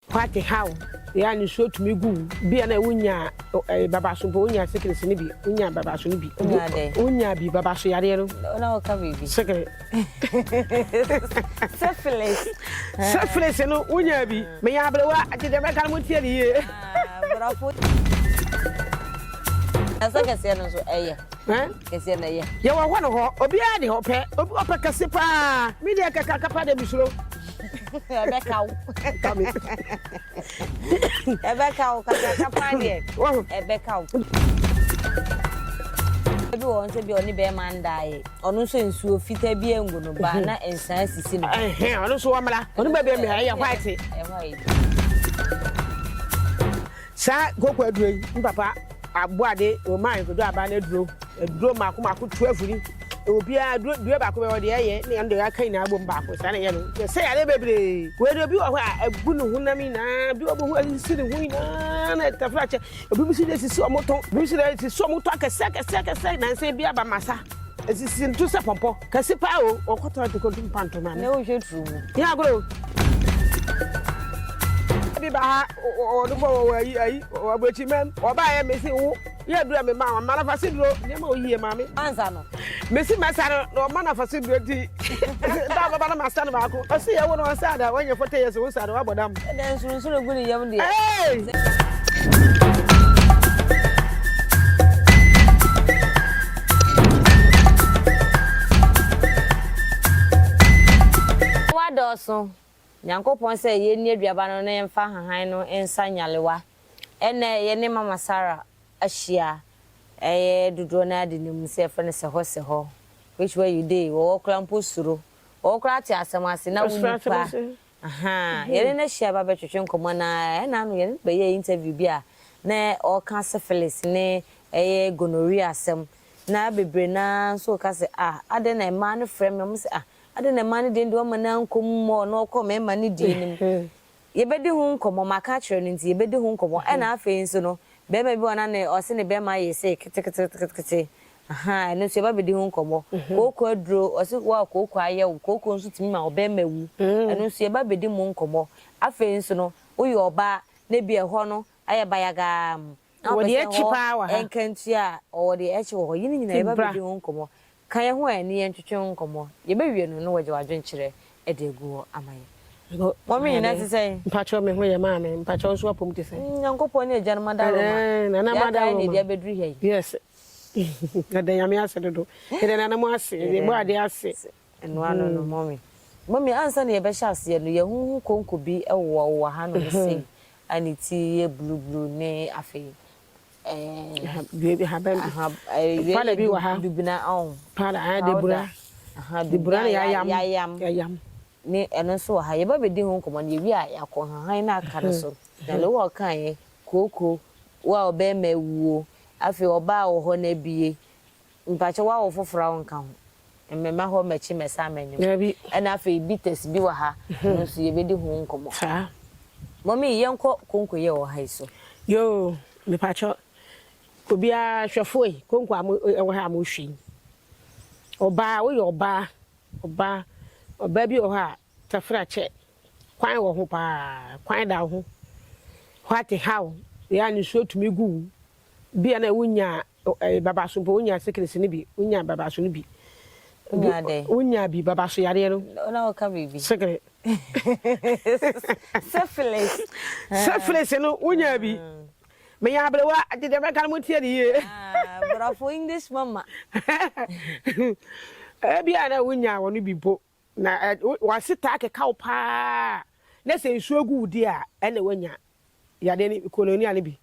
Kwati haw yɛ a nisuo tumi gu wo. Bi a na wonya ɛɛ babaso mpo, wonya sikilisi no bi, wonya babaso no bi. Wonya dɛn? Wonya bi, babaso yareɛ no. Na woka biribi. Sikili. Syphilis. Syphilis no, wonya bi. Meyɛ aberewa, nti deɛ mɛka no motie no yie. Borɔfo. Ɛsɛ kɛseɛ no nso ɛyɛ. Kɛseɛ no ɛyɛ. Yɛwɔ hɔ ne hɔ, obiara de hɔ pɛ, ɔpɛ kɛse paa. Me deɛ kɛkɛ akapa deɛ mesuro. ɛbɛka wo ɛbɛka wo kakaka paa deɛ ɛbɛka wo bi wɔ nso bi ɔne bɛrima ndaeɛ ɔno nso nsuo fitaa bi angu no baa na nsaa sisi no ɔno nso wɔmmra ɔno baabi mmra ɛyɛ white Saa koko aduro yi me papa aboade ɔma nkodo aba no aduro aduro mako mako tu afiri ɛwɔ biara aduro dua baako bɛ ɔde ɛyɛ ne ɛno de aka nyinaa bom baako saa na ɛyɛ no nti ɛsɛ yare bebree wei de obi wɔ hɔ a ɛgu ne honam nyinaa bi wɔ bɛhu asisi ne ho nyinaa na ɛtafra kyɛ obi bi si de sisi ɔmo tɔn obi bi si de sisi ɔmo tɔn akɛse akɛse akɛse nansa bi aba masa Esisi ntu sɛ pɔmpɔ kɛse paa o ɔkɔtɔ ati kɔntu mpa nto ma me. Na wohwɛ turu mu. Yɛ agorɔ o. Bi ba ha ɔde bɔ wɔ ayi ayi ɔbɔ akyi mɛm ɔbaa yɛ mesi wo yɛ duro mi ma wɔn ma nafa si duro nneɛma oyie maame. Ansa no. Mesi mɛsa no na ɔma nafa si duro ti. Nta baba na ma sa no baako. Ɔsi yɛ wo no ɔnsa da wɔnyɛ fɔte yɛ so wo nsa da wabɔ dam. Ɛdɛn nsoronsoro egu ne yam deɛ. Wadɔɔso, Nyankopɔn sɛ yɛnni aduaba no na yɛmfa nhahan no nsa nyalewa. Ɛnnɛ yɛne Mama Sarah ahyia ɛyɛ dodoɔ no ara denim sɛ yɛfrɛ no sɛhɔ sɛhɔ which where you dey wɔwɔ koraa mpo suro wɔwɔ koraa te asɛm ase na wonni paa Ahaa, yɛne no ahyia ba bɛtwetwe nkɔmmɔ na ɛna ano yɛne no bɛyɛɛ interview bi a na ɔreka syphilis ne ɛyɛ gonorrhea asɛm na bebree no ara nso reka sɛ ah adɛn na mmaa no frɛ me wɔn se ah adɛn na mmaa no deɛ deɛ wɔmma no ankɔ mu mmɔ na ɔkɔ mmarima no deɛ no mu. Yɛbɛdi ho nkɔmmɔ, maka akyerɛ no nti yɛbɛdi ho nkɔmmɔ ɛna afei nso no barima bi wɔ hɔ a na ne ɔse ne barima yɛ sei ketekete ketekete Ahaa ɛno nso yɛba bɛdi ho nkɔmmɔ. Kooko aduro, ɔse wo a kooko ayɛ wo, kooko nso tumi ma ɔbarima wu, ɛno nso yɛba bɛdi mu nkɔmmɔ. Afei nso no, woyɛ ɔbaa na ebia ɛhɔ no ayɛ bayagaa mm, na wopɛ sɛ ɛhɔ ɛnka ntua a, ɔwɔ deɛ ɛkye wɔ hɔ. Yei ne nyinaa yɛba bɛdi ho nkɔmmɔ. Ka yɛn ho a ɛne yɛn ntwetwe ho nkɔmmɔ. Yɛbɛwie no na woagya w'adwenkyerɛ de agu hɔ ama yɛn. Mɔmi nyinaa te sɛn? Mpakyɛw me ho yɛ maame, mpakyɛw nso w'apɔm te sɛn? Nyankopɔn ne agyanom adaworoma, yɛaka yɛn na ɛde abɛduru ha yi. Yes, Yɛda Nyame ase dodo. Yɛda Nana mo ase. Yɛda Yɛbɔ ade ase. Ɛno ano no mummy. Mummy ansa na yɛbɛhyɛ aseɛ no yɛhuhu konko bi wɔ wɔ ha nom sei a ne ti yɛ blue blue ne afei ɛɛ Ahaban bi. Aha ɛɛ Powder bi wɔ ha. Dubina ɔn. Powder ɛɛ debura. Powder aha Debura na dubina yayam. yayam. Yayam. ne ɛno nso wɔ ha. Yɛba bɛdi ho nkɔmmɔ no, yɛwie a, yɛakɔ nhahan no a aka no so. Na Lowell kaeɛ, Kooko, wo a wo barima awuo, afei ɔbaa wɔ hɔ na abue, mpakyɛ woawo foforɔ a wonka ho? Mɛma hɔ mmɛkye mɛsan mɛnwom. Ɛna afei bitters bi wɔ ha, ɛno nso yɛbɛdi ho nkɔmmɔ. Mɔmii, yɛnkɔ konko yi a ɛwɔ ha yi so. Yoo, mepakyɛ obiara, hwɛfoɔ yi, konko a ɛwɔ ha a mohwɛ yi, ɔbaa, woyɛ ɔbaa Ɔbaa ɔbaa bi wɔ hɔ a tafra kyɛ kwan wɔ ho paa kwan da wo ho hwate how yɛ a nisuo tumi gu wo bi a na wo nya ɛɛ babaso mpo wo nya sekirisi no bi wo nya babaso no bi wo nya bi babaso yareɛ no na wo ka biribi sekiri sefilis sefilis no wo nya bi Meyɛ aberewa nti deɛ mɛka no montie no yie. Ah, brɔfo English mama. Ebia na wonyaa wɔn bi mpo na wɔasetaa keka wo paa na sɛ nsuo gu wo di a ɛna woanya yadeɛ ne kononia no bi.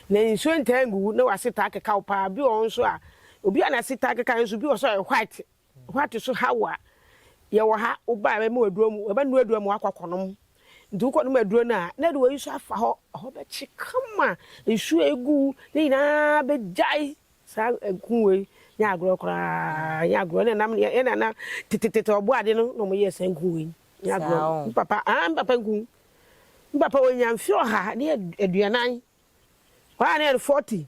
Na nsuo ntaa ngu wo na wɔasetaa keka wo paa. Bi wɔ hɔ nso a obi a n'asetaa keka nso bi wɔ so a ɛyɛ white Hwat so Hawa yɛwɔ ha wobae bɛma wo aduro mu wobɛnoa aduro mu wakɔ akɔnom nti wokɔ nom aduro no a na ɛde wei nso afa hɔ ɛhɔ bɛkye kama nsuo a ɛgu ne nyinaa bɛgyae saa ɛku wei nyɛ agorɔ koraa nyɛ agorɔ ɛna nam yɛ nana tetetete ɔbɔ ade no na ɔmo yɛ saa nku wei nyɛ agorɔ m papa ah m papa nku m papa wɔnya mfe ɔha ne aduanan wɔa ne yɛ no 40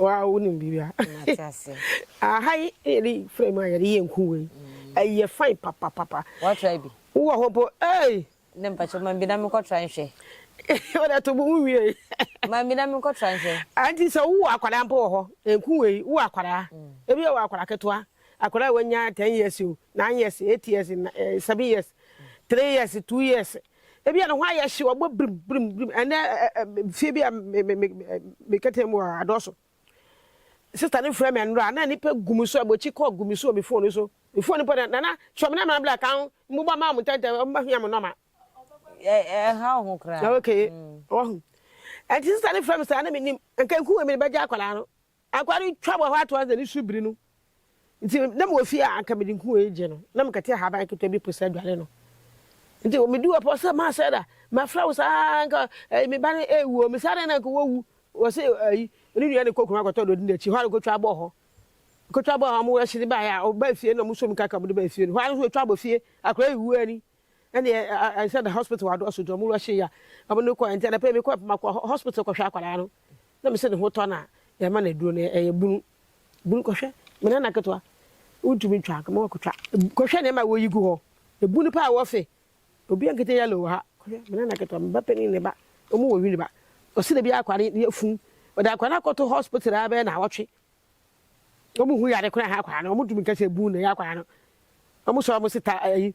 wa wo nim biribi a aha yi yɛde fira mu a yɛde yɛ nku wei ɛyɛ fain papapapa wɔtra bi wowɔ hɔ mpo ei ne mpakyɛ ma bi na mekɔtra nhwɛ wɔde to bo mu wie ma bi na mekɔtra nhwɛ anti sɛ wowɔ akwadaa mpo wɔ hɔ nku wei wowɔ akwadaa mm. ebi wɔ akwadaa ketewa akwadaa wɔnya ten years o nine years eight years eh, seven years three years two years Ebia ne ho ayɛ hye, wabɔ birim birim birim. Ɛnnɛ fie bi a me kɛtɛ mu a adɔɔso. Sista no frɛ me anura na nipa gu me so a bɔkyi kɔɔ gu me so wɔ me fone so. Me fone mpo na nana kyerɛ me na mena bla kan mbobɔ ma wɔn ntɛntɛm wɔn bɛhia me nɔma. Ɛha wo ho koraa. Okay, wahu. Ɛnti sista no frɛ me saa na menim. Nka nku wei mede bɛgya akwadaa no. Agua no twa wɔ hɔ ara toa n'aniso biri no nti na mewɔ fie a anka mede nkuwa yi gye no na mekɛte ahaban ketewa bi po sɛ aduane no nti meduu hɔ pɔ sɛ maa sɛ da mafrɛ wo saa anka ɛyi me ba no ɛwuo me saa dɛn na anka wɔwu wɔ sɛ ɛyi ne nua ne kɔkunu akɔtɔ dɔdi n'akyi hɔ a nkɔtwa abɔ hɔ nkɔtwa abɔ hɔ a wɔwɔ ɛhyɛ ne baeɛ a ɔbaa fie na wɔsom kaka wɔde baa fie no hɔ a nso ɛtwa abɔ fie akora ɛwuo ani Ɛnde ansa na hospital adɔɔso dwa mu rush yi a wɔde no kɔe nti, anapa yi mekɔe makɔ hospital kɔhwɛ akwadaa no na mese ne ho tɔ no a, yɛrema no aduro no ɛyɛ bunu. Bunu kɔhwɛ me nana ketewa wontumi ntwa anka ma wakɔtwa. Kɔhwɛ nneɛma a wɔyi gu hɔ, bunu paa wɔ fe. Obi ankete yellow wɔ ha. Kɔhwɛ me nana ketewa, me ba panin ne ne ba, wɔn wɔ Winneba. Ɔse da bi akwadaa no afu. Wɔde akwadaa no akɔto hospital ara bɛyɛ nnawɔtwe. Wɔn hu yare koraa ha akwadaa no, wɔntumi nka sɛ bunu na ɛyɛ akwadaa no. Wɔn sɔre wɔn se ta ayi.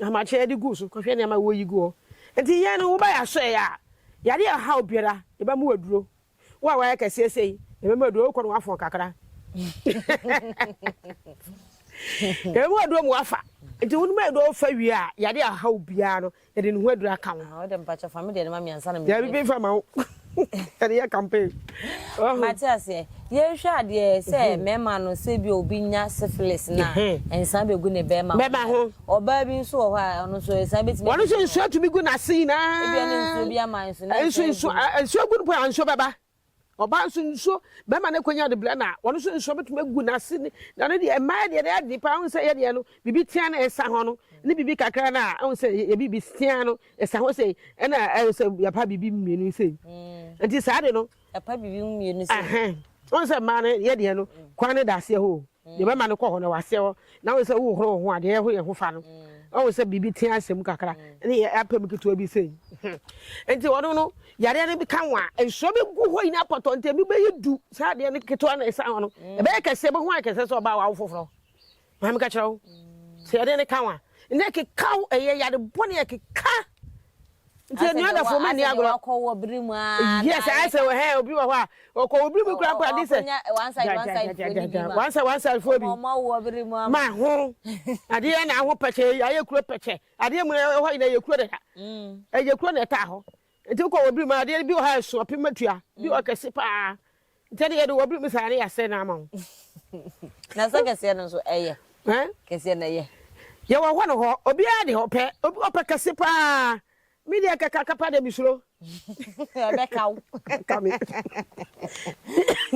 Ahomakye de gu so kɔhwɛ nneɛma a woyi gu hɔ. Enti yɛn no, woba yɛn asɔre a, yɛade a ɛhaw biara, yɛbɛma wo aduro. Wo a woayɛ kɛseɛ sei, yɛbɛma aduro. Wokɔ no woafɔn kakra. Yɛbɛma wo aduro ma woafa. Nti wo no ma aduro wofa wie a, yɛade a ɛhaw biara no, yɛde ne ho aduro aka wo. Ah, wode mpakyɛ fa me deɛ no ma me ansa na me. Dabi bi fa ma wo. Yɛde yɛ campaign. Mate aseɛ. Yɛnhwɛ adeɛ sɛ mmarima no sɛ bi obi nya syphilis na nsa bɛgu ne bɛrima bɛrima ho. Ɔbaa bi nso wɔ hɔ a ɔno nso nsa bɛtumi. Wɔn nso nsuo atumi gu n'ase nyinaa. Ebi ɛne nsuo bi ama nso ne nsuo nsuo nsuo gu no po a nsuo bɛba. Ɔbaa nso nsuo bɛrima no konya de blɛ na wɔn nso nsuo bɛtumi gu n'ase ne na ne deɛ mmaa deɛ deɛ adi paa ahun sɛ yɛ deɛ no bibi tia na ɛsa ho no ne bibi kakra na ahun sɛ yɛ bibi tia no Ɛsa hɔ sei, ɛna ɛyɛ sɛ yɛpa biribi mu mmienu sei. Nti saa de no. Ɛpa biribi mu mmienu sei. Ɛhɛn. Wɔn sɛ mmaa no yɛ deɛ no, kwan no da aseɛ hɔ o. Deɛ bɛma no kɔ hɔ no, ɛwɔ aseɛ hɔ. Na wɔn sɛ wohohoro wo ho a, deɛ ɛho yɛ ho fa no. Wɔn sɛ biribi tea ahyɛ mu kakra, ne yɛ apɛ mu ketewa bi sei. Nti wɔn no, yareɛ no bi ka wɔn a, nsuo bi gu hɔ nyinaa pɔtɔ, nti ebi bɛyɛ du. Saa adeɛ no ketewa na ɛsa hɔ no, ɛbɛyɛ kɛseɛ, ɛbɛho ayɛ kɛseɛ sɛ ɔbaa wawo foforɔ. Maame ka kyerɛ wo sɛ yɛde ne ka ho a ne ɛkeka wo ɛyɛ yade bɔne ɛkeka nti ɛnua dafo ma ni agorɔ yes ayɛ sɛ wɔhɛ obi wɔ hɔ a ɔkɔ wo biri mu kura mpo ade sɛ wansa wansa ifoɔ bi ma ho adeɛ na aho pɛkyɛ ayɛ kuro pɛkyɛ adeɛ mu ɛhɔ yina yɛ kuro dada ɛyɛ kuro na ɛtaa hɔ Nti wokɔ wɔ bere mu a adeɛ no bi wɔ hɔ a ɛso apem atua bi wɔ kɛse paa nti ɛde yɛde wɔ bere mu saa ne yɛasɛ no ama wo na sɛ kɛseɛ no nso ɛyɛ kɛseɛ no ɛyɛ yɛwɔ hɔ no hɔ obiara de ɔpɛ obi ɔpɛ kɛse paa me deɛ kɛka kapa deɛ mesuro ɛbɛka wo ɛka me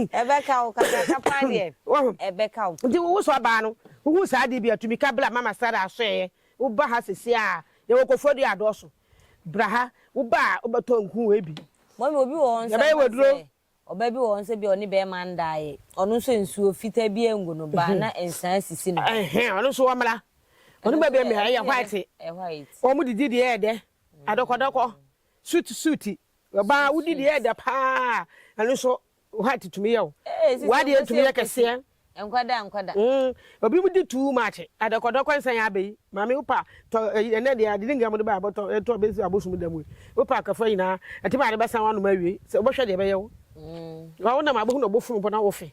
ɛbɛka wo kaka kapa deɛ ɛbɛka wo nti wowo so abaa no wohu saa adeɛ bi atumi ka bla mama sara asɔɛɛ woba ha sɛsi a yɛwɔ kɔfoɔ deɛ adɔɔso Bra ha, wo ba a wobɛtɔ nku wei bi. Mummy obi wɔ hɔ nso Yɛbɛyɛ anaasɛ waduro. ɔba bi wɔ hɔ nso ebia ɔne bɛrima ndaeɛ, ɔno nso nsuo fitaa biara ngu no baa na nsaa sisi ne ho. Ɛhɛn, ɔno nso ɔmmra. Ɔno Ɛno nso baabi yɛ mmea, ɛno ɛyɛ nso yɛ dɛ, white. ɛyɛ white. Wɔn didi deɛ yɛ dɛ, adɔkɔdɔkɔ, suit suit. Ɔbaa Suit wodidi suit. yɛ dɛ paa, ɛno nso White tumi yɛ o. W'adeɛ no tumi yɛ kɛseɛ. Nkwadaa nkwadaa. Mm, obi mu di too much. Adɔkɔdɔkɔ nsa yɛ abɛyi. Maame wopa tɔ ɛyi ɛnɛ deɛ adidi nka mo de ba abɔtɔ ɛtɔ bɛsi abosom da mu yi. Wopa akafra nyinaa. Ɛte maa de bɛsan w'anom awie. Sɛ wobɛhwɛ deɛ ɛbɛyɛ wo. Mm. Wa wonam abɛhu na ɔbɔ funu mpo na wofe.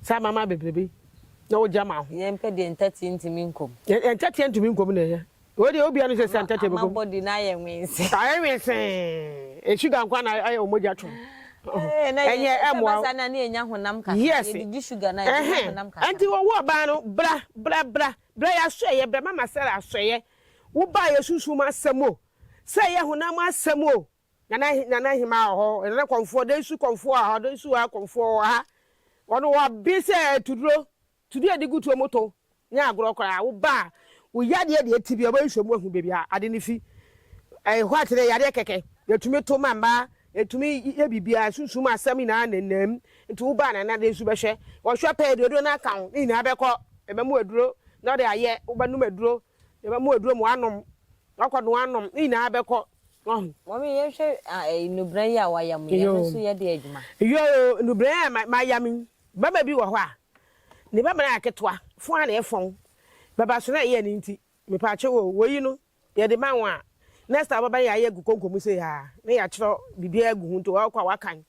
Saa mama bebrebe. Na wogya ma ho. Yɛmpɛ deɛ ntɛteɛ ntumi nkɔm. Ntɛteɛ ntumi nkɔm na ɛyɛ. Wei deɛ obia nim sɛ sɛ ntɛtɛ bɛkɔm. Ama body no ayɛ nwensee. Ayɛ nwensee. Sugar nkwa na ayɛ wo mogya twom. Ɛnyɛ ɛmoa wo. Na ne yɛnya honam kakra. Yes. Yɛdidi sugar na yɛnya honam kakra. Ɛnti wɔwo ɔbaa no bra bra bra bra yɛ asɔɛyɛ bra mama Sarah asɔɛyɛ wo baa yɛ sunsum asɛm o sɛ yɛ honam asɛm o Nana Nana Ahimaa wɔ hɔ Nana Kɔmfoɔ Dansu Kɔmfoɔ wɔ ha Dansu wɔ ha Kɔmfoɔ wɔ ha wɔn wɔabe sɛ atuduro Tuo a yɛde gu tuo mu tow nyɛ agorɔ koraa. Wo ba a wo yadeɛ deɛ ti bi a ɔbɛyɛ nhwɛmu ahu baabi a ade no fi. Ɛyɛ hɔ a te dɛ yadeɛ kɛkɛ. Yɛtumi to ma mmaa, yɛtumi yɛ biribiara, sunsum asɛm nyinaa nenam. Nti wo ba a nana dɛn nso bɛhwɛ. Ɔhwɛ pɛɛ deɛ aduro no aka ho ne nyinaa bɛkɔ. Yɛbɛma wo aduro na ɔde ayɛ. Wobɛnom aduro. Yɛbɛma wo aduro ma woanom. Wakɔ no anom. Ne nyinaa bɛkɔ. Wahu? Mummy yɛnhwɛ nnubran yi a wayam yi, ɛno nso yɛ de adwuma? Yoo, nnubran a mayam yi, Bɛma bi wɔ hɔ a, ne bɛma no ayɛ ketewa, fɔn a na ɛyɛ fɔn, bɛbaso no a ɛyɛ ne nti, mepaakyɛw o, woi no, yɛde ma wo a, next time wobɛba no yɛayɛ agu konko mu sei aa, na yɛakyerɛ biribiara agu ho nti wɔkɔ a wɔakan.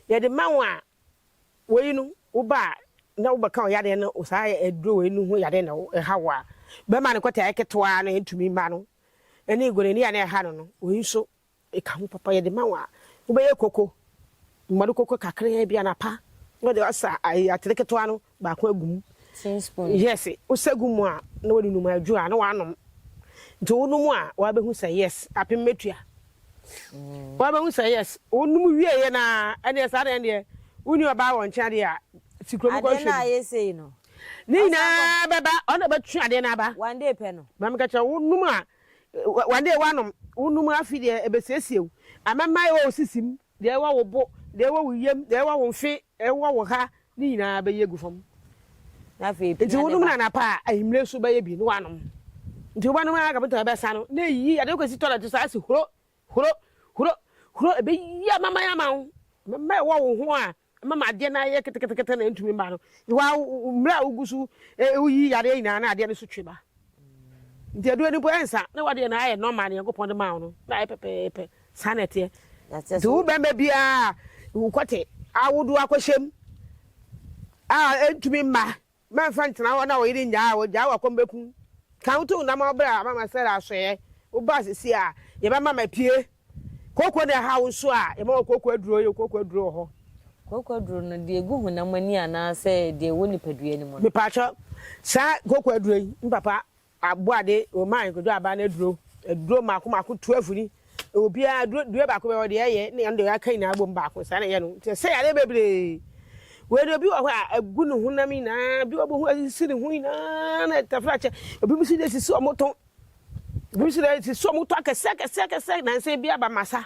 Yɛde ma wo a, woi no, woba a na wobɛka ɔyɛ adeɛ no, saa aduro woi no ho yɛ adeɛ na ɛha wo a, bɛma no kɔtaa yɛ ketewa na ɛntumi mma no, ɛne gonani a na ɛha no no, woi nso, Eka ho papa yɛde ma wo a, wobɛyɛ koko, mmɔde koko kakraa bi anapa na wode asa ayi atere ketewa no baako agu mu. Tea spoon. Yes, wosa gu mu a na wode num adwo a na woanom. Nti wonom a woabɛhu sɛ yes, apem mɛtua. Woabɛhu sɛ yes, wonom wieeɛ no ara ɛnneɛ saa deɛ deɛ wonni ɔbaa wɔ nkyɛn adeɛ a si kurom kɔhwɛ bi. Adeɛ no a ayɛ sei no. Ne nyinaa bɛba, ɔno na ɔbɛtwe adeɛ no aba. One day pɛ no. Maame ka kyerɛ wo, wonom a Wɔde w'anom, wo nom afi deɛ ɛbɛsiesie wo, amɛmma ɛwɔ wo sisi mu, deɛ ɛwɔ wo bo, deɛ ɛwɔ wo yam, deɛ ɛwɔ wo mfe, ɛwɔ wo ha, ne nyinaa bɛyi agu fam. Nti wo nom no anapa a anwummerɛ nso bɛyɛ bi ne w'anom. Nti wobɛnom ara kɔpem sɛ ɛbɛsa no, na ɛyi ade wokɔsi tɔlɛt saa si huro, huro, huro, huro, ɛbɛyi amɛmma yi ama wo, amɛmma ɛwɔ wo ho a Ɛma ma adeɛ no ara yɛ ketekete na ɛntumi mma no. Wa, mmerɛ a wogu so woyi yadeɛ nyinaa na adeɛ no so twe ba. Nti aduro no mpo ɛnsa, na wadeɛ no ayɛ normal, Nyankopɔn de maa wo no, na ayɛ pɛpɛɛpɛ. Saa na ɛteɛ. Nti wo bɛrima biara a wokɔte awodoɔ akɔhyɛm a ɛntumi mma, Mɛmfa ntena hɔ na wo yere nnyaa wo, gyaa wo a kɔm bɛku wo. Ka wo to nam a wobrɛ a mama Sara asoɛeɛ, woba a seesei a yɛbɛma mapue. Kooko na ɛhaw wo nso a, yɛma wo kooko aduro, yɛwɔ kooko aduro wɔ hɔ. Kooko aduro no, deɛ ɛgu honam ani anaasɛ deɛ ɛwɔ nipadua no mu no? Mepaakyɛw, saa kooko aduro yi, mpapa, Aboade, Wɔmaa nkotodwe abaa no aduro. Aduro mmaako mmaako twelve ni. Obiara, aduro, due baako bɛyɛ ɔde ɛyɛ ne ɛno deɛ yɛaka nyinaa bom baako. Saa na ɛyɛ no. Nti ɛsɛ yadeɛ bebree. Wei deɛ obi wɔ hɔ a, agu ne honam nyinaa, bi wɔ bɛhu asisi ne ho nyinaa na ɛtafra kyɛ. Obi nso deɛ sisi wɔn to. Obi nso deɛ sisi wɔn to akɛseɛ akɛseɛ akɛseɛ nanso ebi aba masa.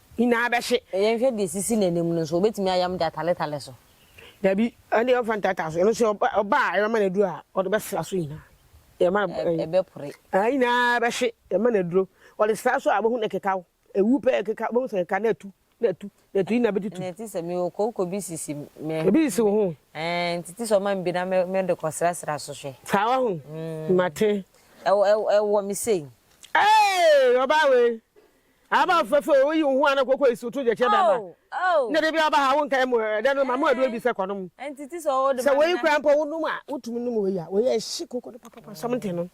nyinaa bɛhye. Yɛnhwɛ deɛ ɛsisi n'anim no nso, ɔbɛtumi ayam de ataletale so? Dabi, ɛnneɛ ɔmfa ntaatae so. Ɛno nso, ɔba a yɛbɛma no aduro a, ɔde bɛsra so nyinaa. Yɛma no ɛyi. Ɛbɛpore. Ɛɛ, nyinaa bɛhye, yɛma no aduro. Ɔde sra so a, wobɛhu na ɛkekaw. Ɛwu pɛ, ɛkekaw, wobɛhu sɛ ɛkekaw na atu, na atu, na atu, nyinaa bɛtutu. Ɛnna ɛte sɛ mewɔ kooko bi sisi me. Ebi sisi wo ho. Ɛɛ, nti te sɛ ɔma me bi na mede kɔsrasra so hwɛ. Saa wɔ ho? Mate. Ɛwɔ me sei. Ee, ɔbaa wei, Aba wo fɛfɛ o, woyi wo ho a na koko esu to gyekyɛ bɛma. Nna da biara ɔba ha a wonka emo ɛ, ɛdɛ no ma mo aduro bi sɛ kɔ nom. Sɛ wei koraa mpo wo nom a, wotumi nom wei a, wei a ɛhye koko no papapa something no,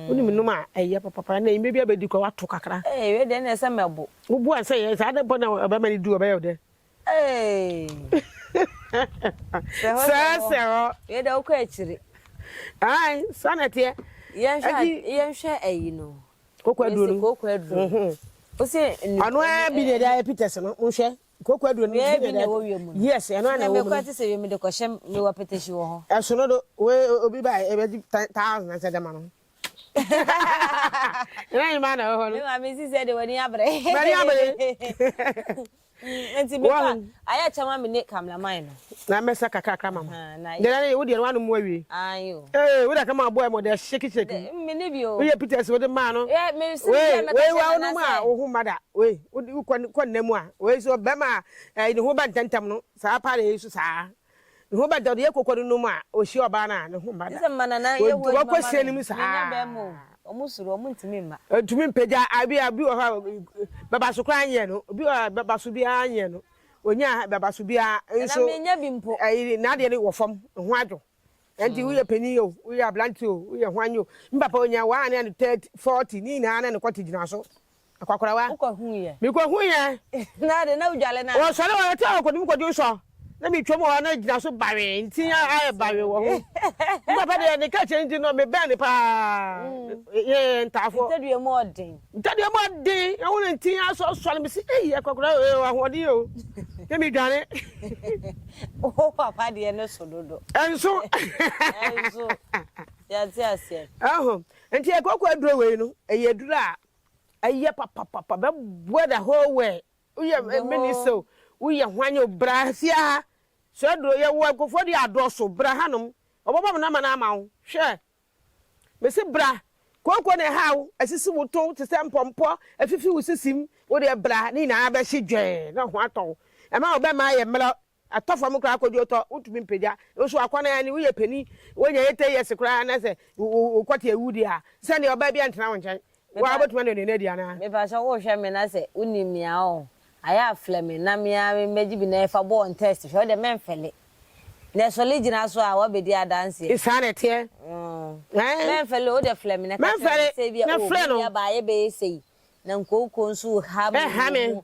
wonim nom a ɛyɛ papapa. Ɛnna enyimɛ biara bɛdi kɔ a, woato kakra. Ee, wei deɛ ɛnna ɛsɛ mɛbo. Wobo a sɛ ɛyɛ saa na mpo na ɔbɛma no du a, ɔbɛyɛ wo dɛ? Sɛhɔsɛhɔ wei deɛ wokɔ akyiri. Ae saa na ɛteɛ. Yɛnhwɛ ayi no. Koko aduro no. Koko aduro no. Ose nnuane. Ano ara bi na ɛde ayɛ peters no nhwɛ. Koko aduro no. Yɛ bi na ɛwɔ wiem no. Yes ɛno ara na ɛwɔ mu. Na mekɔ te sɛ wiem de kɔhyɛ mewɔ petehyi wɔ hɔ. Ɛsono do we obi ba ɛbɛgye thousand ɛsɛ dɛma no. Ɛna nyima na ɛwɔ hɔ no. Mema mesi sɛ de w'ani abrɛ. W'ani abrɛ. Mm, nti me ka ayɛ kyɛ ma me ne cameraman no. Na me sa kakra kakra mama. Na na ye wo de no anu mu awie. Ayo. Eh, wo da ka ma boy mo de shake shake. Me ne bi o. Wo ye Peters wo de ma no. Eh, me si me me ka shake na. Wo no ma wo ho mada. We, wo ko ko na mu a. We so be ma eh ne ho ba ntantam no. Sa pa de so sa. Ne ho bɛdɔ no, yɛ koko no nom a, ɔhyia ɔbaa no a, ne ho mma da. Wɔkɔ sie no mu saa. Ɔntumi mpagya, ebi a, obi wɔ hɔ a, bɛbaso koraa nyɛ no. Obi wɔ hɔ a, bɛbaso biara nyɛ no. Ɔnya bɛbaso biara nso, n'adeɛ no wɔ fam, ne ho adwo. Ɛnti woyɛ panin o, woyɛ aberanteɛ o, woyɛ hwan o, me papa ɔnya, w'aa ne yɛ no 30, 40, ne nyinaa na ne kɔte gyina so. Akwakorawa. Wokɔ hu yɛ. Mi kɔ hu yɛ. Na ade na wudwale na. Wɔ sɔre wɔ yɛ tɛ wɔ kɔdum kɔdi nsɔ. Na mi twɛ mu hɔ na gyina so bawee nti ya ayɛ bawee wɔ ho. Mi papa deɛ ne kɛkyɛ nti no mi bɛn ne paa. Yɛ yɛ ntaafo. Ntɛdua mu ɔden. Ntɛdua mu ɔden ɛho na nti ya sɔ sɔre mi si eyi akwakorawa wɔ yɛ wɔ ahoɔden yɛ o. Na mi dwane. Wo papa deɛ ne so dodo. Ɛnso. Ɛnso. Yɛ ate aseɛ. Ɛho nti yɛ kɔkɔ aduro wɔ yi no ɛyɛ aduro a Ɛyɛ papapapa bɛ boa da whole world woyɛ minista o woyɛ hwan o bra fie ha sɛ aduro yɛ wɔ nkurɔfoɔ deɛ adɔɔso bra hanom wɔbɛbɔ mo nɔma no ama wo hwɛ mesi bra kooko na ɛha wo asisi wo to te sɛ mpɔmpɔ afifi wo sisim wo deɛ bra ne nyinaa bɛhye dwɛɛ na ho atɔ wo ɛma wo bɛma ayɛ mmerɛ Atɔ fam koraa kɔdi ɔtɔ, wontumi mpagya. Nanso akɔnnɔ ara ni, woyɛ panin, wonya eighty years koraa anaasɛ wokɔte awu deɛ a, te sɛ nea ɔbaa biara ntena wo nkyɛn. Wo ara wobɛtumi anɔnɔno adi anaa? Mepakyɛ wohwɛ me na sɛ wonim me a ɔɔ ayɛ aflɛ me na me ara mɛgye bi na yɛfa bɔ wɔn test hwɛ, wodeɛ mɛmfɛle. Deɛ sɔle gyina so a wabɛdi adanseɛ. Saa na ɛteɛ. Ɔɔ mɛmfɛle o, wodeɛ flɛ me na ka kyerɛ me sɛ ebia o, me nua baa yɛbɛyɛ sei na nkooko nso ha me wɔ mu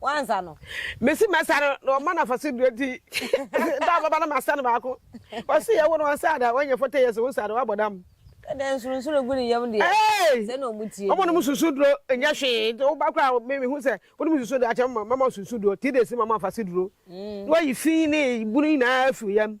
Wansa no. Mesi mɛsa no na ɔma no afaso dua ti. Da a bɛba no masa no baako. Ɔse yɛwo no ɔnsa da, wanya 40 years wo nsa da, wabɔ dam. Dɛdɛ nsurunsuru gu ne yam deɛ. Hey! Sɛ na ɔmu tie nie. Ɔmo nom susu duro nyɛ hwee. Nti woba koraa a me mehu sɛ wonom susu duro akyɛ mama mama susu duro. Three days mama afa se duro. Na wayi fi ne bunu nyinaa afi wo yam.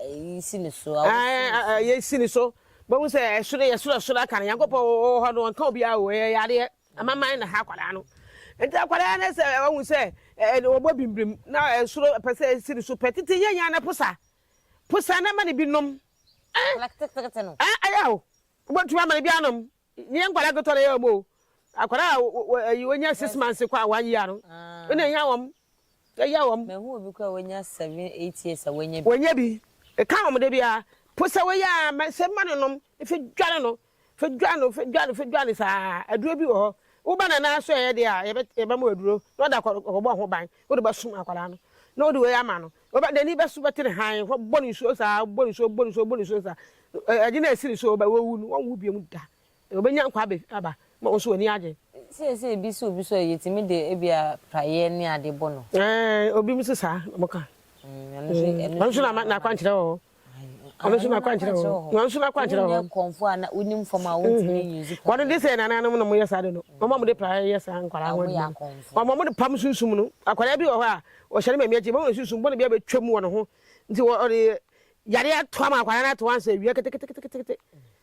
Ayi si ne so. Ayi si ne so. Bɛhu sɛ ɛsoro yɛ soro soro aka no Nyankopɔn wɔ hɔ no ɔnka obiara wɔ ɛyɛ yadeɛ amaman na ha akwadaa no nti akwadaa no sɛ wahu sɛ ɔbɔ bimbirim na ɛsoro pɛ sɛ ɛsi ne so pɛ tete yɛ nya na posa posa na ma ne bi nom ɛyɛ o wobɛtumi ama ne bi anom Nyɛ nkwadaa nketewa na ɛyɛ wɔn o. Akwadaa a wɔ ayi wɔnya six months kɔ a one year no na ehia wɔn. Ehia wɔn. Mahu obi koraa a wanya seven eight years a wannya bi. Wannya bi. Ka wɔn dabiara. Po sɛ wei a ma sɛ ma no nom. Fa dwane no. Fa dwane no. Fa dwane no. Fa dwane no saa. Aduro bi wɔ hɔ. Wo ba no nan ase yɛ deɛ a yɛbɛma wo aduro na ɔde akɔ akɔbɔ ho ban. Wode bɛsom akwadaa no na wode wei ama no. Ɔba n'ani bɛso bɛte ne hann hɔ bɔ no nsuo saa, bɔ no nsuo, bɔ no nsuo, bɔ no nsuo saa. Ɛgye na ɛsi ne so, ɔba wawu no, ɔnwu bio da. Ɔbɛnya nkwa abɛ aba ma wo nso w'ani agye. Seesei bi sɛ obi so a, yɛtumi de ebia praeɛ ne adeɛ bɔ no. Ɛɛ, obi nso saa na wɔka. Ɛno nso, ɛno nso na ama n'akwankyerɛ wɔ hɔ. ɔno nso n'akwankyerɛ wɔ hɔ wɔn nso n'akwankyerɛ wɔ hɔ kɔnfo a wonim fam a wontumi nyi nsu wɔn de sɛ nananom na wɔyɛ saa de no wɔn a wɔde pra yɛ saa nkwadaa ho adwuma wɔn a wɔde pam sunsum no akwadaa bi wɔ hɔ a ɔhyɛ ne maame akyi wɔn sunsum bɔne bi abɛtwam wɔ ne ho nti ɔde yadeɛ ato ama akwadaa no ato ansa awia keteketekete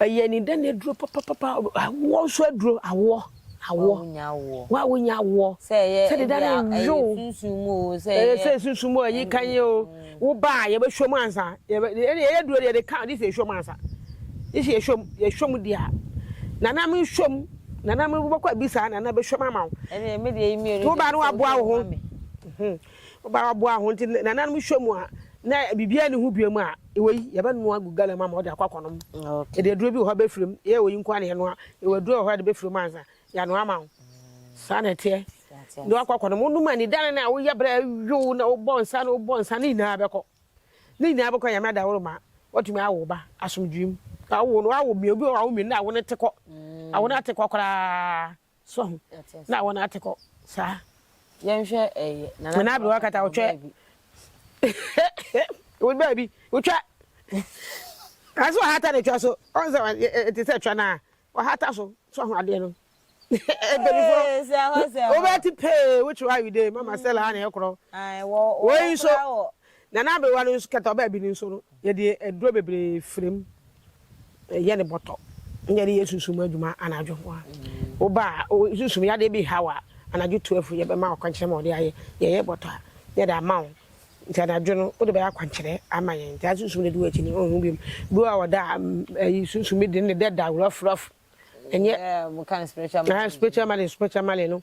Ɛyɛ anida na aduro papapapa. Awoɔ nso aduro, awoɔ, awoɔ. Wo a wonya awoɔ. Sɛ deda no nwo. Sɛ ɛyɛ sunsum mu o, ɛyi kan yi o. Wo ba a, yɛbɛhwɛ mu ansa. Yɛyɛ aduro deɛ, yɛde ka, this yɛhwɛ mu ansa. This yɛhwɛ mu, yɛhwɛ mu deɛ a. Nana me hwɛ mu, nana me wobɛkɔ abisa, nana bɛhwɛ mu ama wo. Wo ba no waboa wo ho. Ɔbaa ɔboa ho nti nananom hwɛ mu a na biribiara nni ho bio mu a, wei yɛbɛnoa agu gallon mu ama wɔde akɔ akɔnom. Yɛde aduro bi wɔ hɔ bɛfiri mu, yɛyɛ wei nko ara na yɛnoa. Yɛwɔ aduro wɔ hɔ yɛde bɛfiri mu ansa yɛanoa ama wo. Saa na ɛteɛ. Na wakɔ akɔnom. Wonom anidane no a woyɛ berɛ a ɛyow na wobɔ nsa na wobɔ nsa ne nyinaa bɛkɔ. Ne nyinaa bɛkɔ Nyame adaworo ma woatumi awo wo ba asomdwoeɛ mu. Woawo no, woawo mmienu, obi wɔ hɔ a wawo mmienu na awo no te kɔ. Awo no ate kɔ koraa. So ho na wɔn ate kɔ saa. Yɛnhwɛ ɛyɛ nana nana aberewa kata wotwa wode baabi wotwa aso ahata na twa so ɔn sɛ ɛte sɛ twa na ɔhata so so ho adeɛ no ebelifo wobɛte pee wotwe ayide mama sɛ laa na ɛkorɔ wei nso Na n'aberewa no nso, kɛtɛ a ɔbaa bi no nso no, yɛde aduro bebree fira mu yɛ no bɔtɔ na yɛde yɛ sunsum mu adwuma anadwo. Wo ba a sunsum yadeɛ bi haw a, anadwo twelve yɛbɛma wo akwankyerɛ ma wɔde ayɛ, yɛyɛ bɔtɔ a na yɛde ama wo nti anadwo no wode bɛyɛ akwankyerɛ ama yɛn nti sunsum no adi w'akyi no wonhu bio. Duro a wɔda ayi sunsum bi de no ne dɛ da rough rough ɛnyɛ spiritual malady spiritual malady no.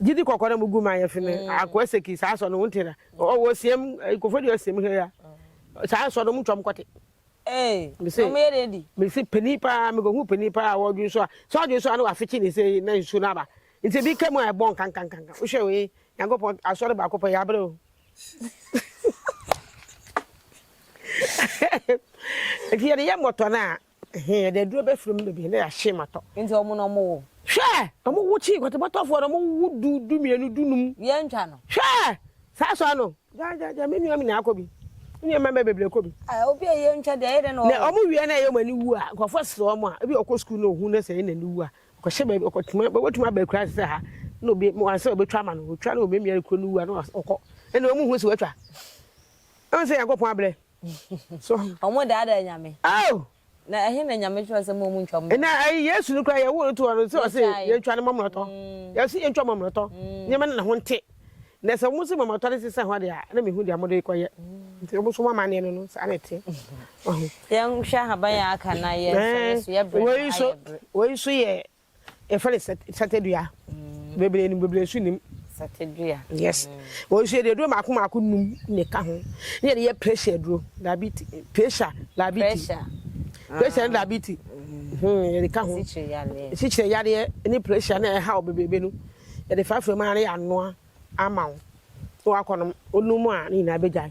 Gyidi kɔkɔ na mugu ma yɛfe me akoa seki saa sɔ no wonte da ɔwɔ siam kofo de ɔsiam hɛ ya saa sɔ no mu twam kɔte ee ɔmo yɛ de di me se pani paa me kɔhu pani paa wɔdwen so a sɛ ɔdwen so a na wafekye ne sɛ na nsu no aba nti bi ka mu a ɛbɔ nkankankanka wohwɛ wei nyankopɔn asɔre baako pɛ yɛabrɛ o nti yɛde yɛ mmɔtɔ no a Ɛhee, yɛde aduro bɛfiri mu baabi na yɛahye ma tɔ. Nti ɔmo na ɔmo wo. Hwɛ! Ɔmo wo kyi kɔtebɔtɔfoɔ na ɔmo wo du, du mmienu, du num. Yɛn ntwa no. Hwɛ! Saa sɔɔ no. Gya, gya, gya me nua me nyinaa kɔ bi. Me nua mmarima bebree kɔ bi. Ah, obi a yɛn ntwa deɛ ɛyɛ dɛ na ɔwo. Na ɔmo wie na ɛyɛ ɔmo ani wu a, nkorɔfoɔ ɛsrɛ ɔmo a, ebi a ɔkɔ sukuu na ohu na sɛ ɛyɛ n'ani wu a, ɔkɔhyɛ baabi, ɔkɔtuma, watumi aba akuraase sɛ ha na obi, mo ansɛ ɔbɛtwa ama no, ɔtwa na ɔmiamia no kuro no wu a na ɔkɔ. Ɛnna ɔmo hu sɛ watwa. Ɔn sɛ Nyankopɔn abrɛ. So. Wɔn daadaa nyame. Oh. Na ɛhe na nyame kyerɛ sɛ mo mu ntwa mo. Na ɛyi Yesu no kura yɛ wo no to ɔno sɛ ɔsɛ yɛn ntwa ne mɔmrɔtɔ. Yɛ sɛ yɛn ntwa mɔmrɔtɔ. Nyame no na ho nte. Na sɛ wɔn sɛ mɔmrɔtɔ ne sisa hɔ de a na mehu deɛ wɔde kɔ yɛ. Nti wɔn so wɔn amaneɛ no no saa na ɛteɛ. Yɛn hwɛ ahaban a aka na yɛn sɔ yɛ so yɛ brɛ. Wei so yɛ Yɛfrɛ no sat satadua. Bebree nim, bebree nso nnim. Satadua. Yes. Wɔn nso yɛde aduro mmaako mmaako nnum na ɛka ho. Ne yɛde yɛ pressure aduro, diabetes, pressure, diabetes. Pressure. Pressure ne ah. diabetes. Hmm, yɛde ka ho. Sikyire yadeɛ. Sikyire yadeɛ ne pressure na ɛha wɔ bebrebe no. Yɛde fafra mu ara ne yɛanoa ama wo. Na wakɔnom, onum a ne nyinaa bɛgyae.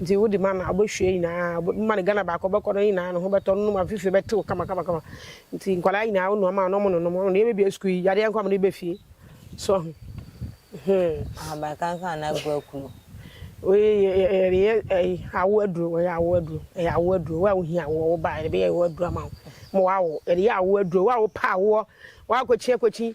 Nti wo de ma no a wobɛhwie nyinaa wo ma no Ghana baako wobɛkɔ no nyinaa ne ho bɛtɔ no nom a fifie bɛtew kama kama kama nti nkwadaa nyinaa wo nua ma no ɔmo nonom ɔmo deɛ yɛbɛbie sukuu yi yadeɛ nko a ɔmo de ba fie so ahu hmm. Ahaban kankan na agu akuro. Ɛyɛ ɛyi awo aduro ɛyɛ awo aduro ɛyɛ awo aduro wo a wohia awoɔ wo baa yɛde bɛyɛ awo aduro ama wo ma wawo yɛde yɛ awo aduro wo a wopɛ awoɔ woakɔkyi akɔkyi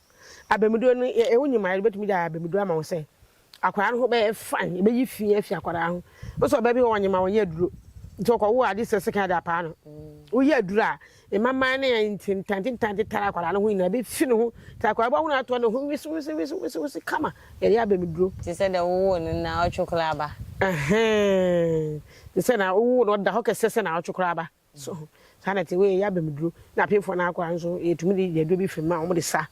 Abamuduro no, yɛ wo nyim a yɛde bɛtumi de ayɛ abamuduro ama wo sɛ akwadaa no ho bɛyɛ fine, yɛbɛyi fi afi akwadaa ho. Nso ɔbaa bi wɔ ɔnyim a ɔnyɛ aduro nti ɔkɔwo ade sɛ sekan de apaa no. Woyɛ aduro a, mmammaa ne ntentantentan tetare akwadaa no ho nyinaa bɛfi ne ho nti akwadaa bɛhunu atoa ne ho wisiwisiwisiwisi kama. Yɛyɛ abamuduro. Te sɛ deɛ wowoo no na ɔtwe koraa ba. Ɛhɛn, te sɛ na wowoo no ɔda hɔ kɛsɛ sɛ na ɔtwe koraa ba. So saa na ɛte? Wei yɛ abam duro na apemfoɔ no akɔ a nso yɛtumi de yɛ aduro bi firi mu a wɔde sa.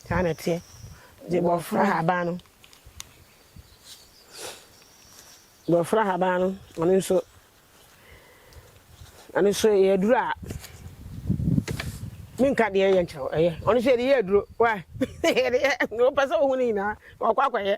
Saa na ɛteɛ. Nti bɔfra haban no bɔfra haban no ɔno nso ɛno nso yɛ aduro a menka deɛ yɛ nkyerɛ ɛyɛ ɔno nso yɛde yɛ aduro wa yɛde yɛ wopɛ sɛ wohu no nyinaa ɔkɔ akɔyɛ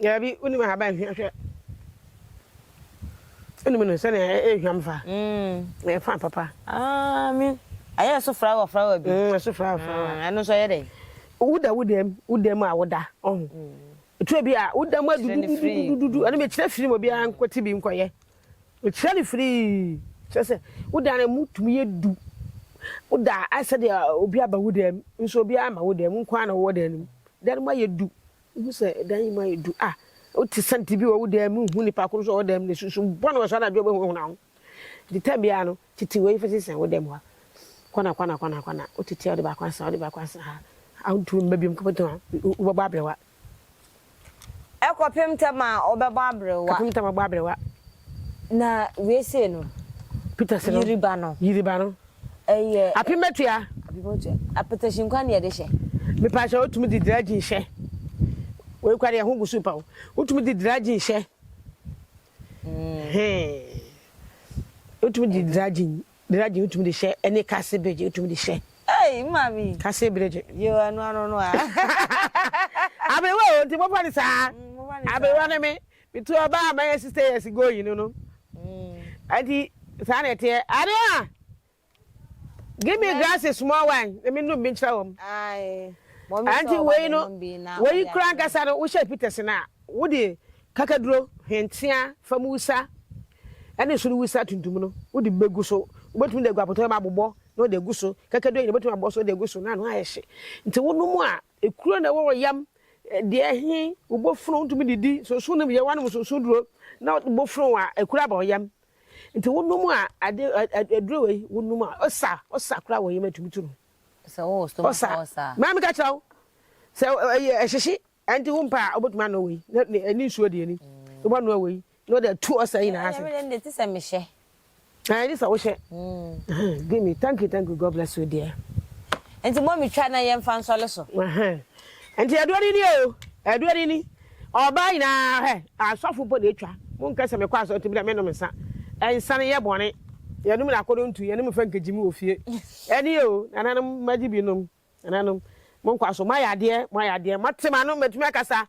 Daabi, wonim ahaban hwa hwɛ. Wonim no sɛnea ɛyɛ hwam fa. Na ɛyɛ fa papa. Aami. Ayɛ ɛso frawa frawa bi. Ɛso frawa frawa. Ɛno nso ɛyɛ dɛn? Woda wo dam, wo dam a woda, ɔho. Ɛturo bi a, wo dam adudududududu. Ɛno mekyerɛ firi mu, obiara nkɔte bi nkɔyɛ. Mekyerɛ no firi. Kyerɛ sɛ, wo dan no ɛmu tumi yɛ du. Woda a, ayɛ sɛdeɛ obi aba wo dam. Nso obiara mma wo dam, wo nko ara na wowɔ dan no mu. Dan no mu ayɛ du. Wohu sɛ dan yi mu ayɛ du a, wote sɛnte bi wɔ wo dan mu, wohu nipa ko nso wɔ wo dan mu, na sunsum bɔne wɔ so anadwo a wobɛhunahuna ho. Nti tam biara no, tete wei fa sisɛn wo dan mu ha, kɔna kɔna kɔna kɔna, wotete a wode baako asra ha, wode baako asra ha, a wontumi mma biom kɔpɛtɔn a wobɛbɔ aberewa. Ɛkɔpem tam a wobɛbɔ aberewa. Kɔpem tam a wobɛbɔ aberewa. Na wei sei no, Peter se no, yiri ba no. Yiri ba no. Ɛyɛ. Apematua. Apematua. Apɛtɛhye nkwan na yɛde hyɛ. Mepakyɛw, wotumi de dragin hyɛ? Wei koraa deɛ ɛho gu so pa o. Wotumi de dragin hyɛ? Hee. Wotumi de dragin, dragin wotumi de hyɛ ɛne kase birigye wotumi de hyɛ. Ei, maame. Kase birigye. Yo, ɛno ano no a. Aberewa o, nti mofa no saa. Mofa no saa. Aberewa ne me. Metu ɔbaa a mayɛ sixty years ago yi no no. Adi saa na ɛteɛ. Adeɛ a give me glasses small wine na menum bi nkyerɛ wɔn. Anti wei no wei kura ankasa no wohyɛ Peterson a wode kakaduro hwentea fam wusa ɛne soro wusa tuntum no wode bɛgu so wobɛtumi de agu apɔtɔ mu abobɔ na wode agu so kakaduro yi na wobɛtumi abɔ so wode agu so na ano ayɛ hye nti wonom a Ekuro na ɛwɔ wɔ yam deɛ he wo bofon ntumi didi sonson no yɛ wanom sonson duro na wo bofon a ekuro aba wo yam nti wo nom a ade aduro wei wo nom a osa osa kora wɔ yam atumi tu no sɛ wo wɔ stomach osa osa maa meka kyerɛ wo sɛ ɛyɛ ɛhyehye ɛnti wo mpa a wobɛtumi ano wei ne nsuo deɛ ni wobɛnoa wei Na ɔde atu ɔsa nyinaa ase. Ɛyɛ mi de ti sɛ mi hyɛ. Ɛyɛ ti sɛ wo hyɛ. Give me thank you thank you God bless you dear. Nti mo mi twa na yɛn fa nsɔle so. Nti ɛdoɔ ni ni o ɛdoɔ ni ni ɔbaa nyinaa hɛ asɔfo mpo na etwa mo nkɛ sɛ mi kɔ asɔ nti mi dɛ mi nom nsa nsa no yɛ bɔne yɛn nom na akɔdɔ ntu yɛn nom fɛ nkegye mi wɔ fie ɛni o nana nom magye bi nom nana nom mo nkɔ aso mo ayɛ adeɛ mo ayɛ adeɛ mo te ma no mɛtumi akasa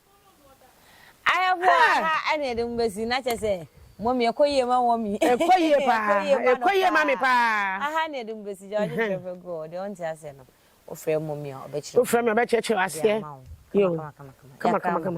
Ayɛfo a ha ɛna yɛde mo besi na kyerɛ sɛ mummy ɛkɔ yie ma mummy. Ɛkɔ yie paa ɛkɔ yie ma me paa. Aha na yɛde mo besi gya ɔgye kyerɛ fɛ gu hɔ deɛ ɔnte aseɛ no wofrɛ mummy a ɔbɛkyerɛ wo. Wofrɛ me a ɔbɛkyerɛkyerɛ wo aseɛ yoo kama kama kama.